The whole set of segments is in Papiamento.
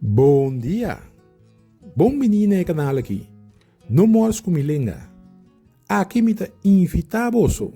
Bon dia! Bon bini na e kanal aki, No Mors Ku Mi Lenga. Aki mi ta invita boso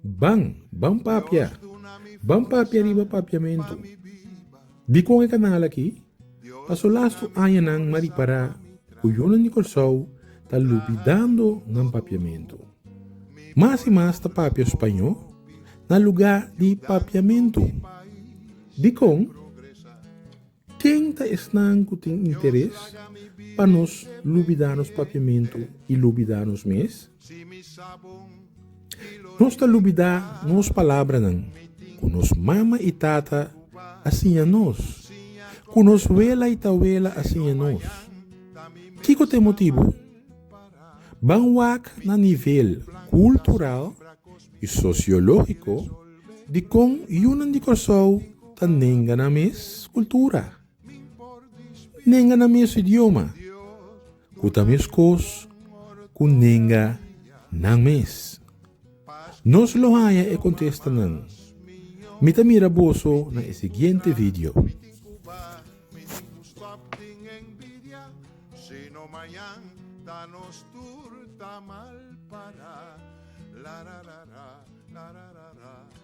ban, ban papia, ban papia riba papiamentu. Dikon e kanal aki? Pa su lastu añanan Mari Pará ku yunan di Kòrsou ta lubidando nan papiamentu. Mas i mas ta papia spañó na lugá di papiamentu. Dikon? Ken ta esnan ku tin interes pa nos lubidá nos papiamentu i lubidá nos mes? Nos ta lubidá nos palabranan ku nos mama i tata a siña nos, ku nos wela i tawela a siña nos. Kiko ta e motibu? Ban wak na nivel kultural i sosiológiko di kon yunan di Kòrsou ta nenga nan mes kultura. Nenga na mes idioma, ku ta meskos ku nenga nan mes. Nos lo haña e kontestanan. Mi ta mira boso na e siguiente video.